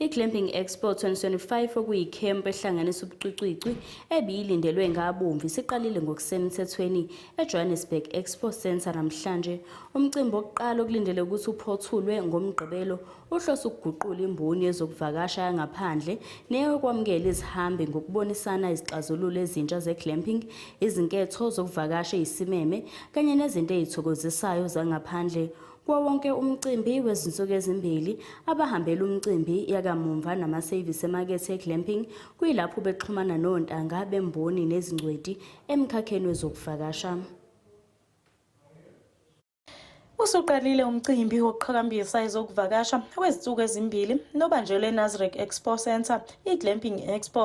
I-Glamping Expo 2025 okuyikhempu ehlanganisa ubucwicwicwi ebiyilindelwe ngabomvu isiqalile ngokusemthethweni eJohannesburg Expo Centre namhlanje. Umcimbi wokuqala okulindele ukuthi uphothulwe ngoMgqibelo uhlose ukuguqula imboni yezokuvakasha yangaphandle neyokwamukela izihambi ngokubonisana izixazululo ezintsha ze-glamping, izinketho zokuvakasha eyisimeme kanye nezinto ezithokozisayo zangaphandle. Kuwo wonke umcimbi wezinsuku ezimbili, abahambela umcimbi yakamumva namasevisi emakethe eGlamping kuyilapho bexhumana nontanga bemboni nezingcweti emkhakheni wezokuvakasha. Usuqalile umcimbi wokuqhakambisa ezokuvakasha wezinsuku ezimbili nobanjelwe eNasrec Expo Centre, iGlamping Expo.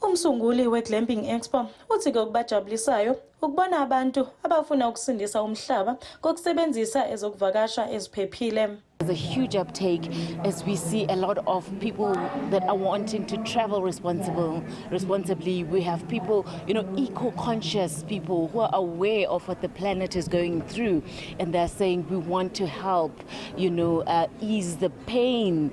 Umsunguli we-Glamping Expo uthi-ke okubajabulisayo ukubona abantu abafuna ukusindisa umhlaba ngokusebenzisa ezokuvakasha eziphephile. There's a huge uptake as we see a lot of people that are wanting to travel responsible, responsibly. We have people, you know, eco-conscious people who are aware of what the planet is going through, and they're saying we want to help, you know, uh, ease the pain,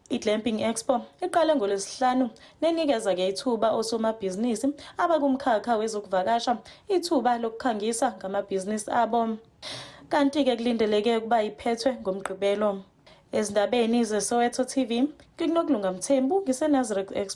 I-Glamping Expo iqale ngolwesihlanu nenikeza ke ithuba osomabhizinisi abakumkhakha wezokuvakasha ithuba lokukhangisa ngamabhizinisi abo kanti-ke kulindeleke ukuba iphethwe ngomgqibelo ezindabeni zesoweto tv ngikunokulunga mthembu ngisenazareth expo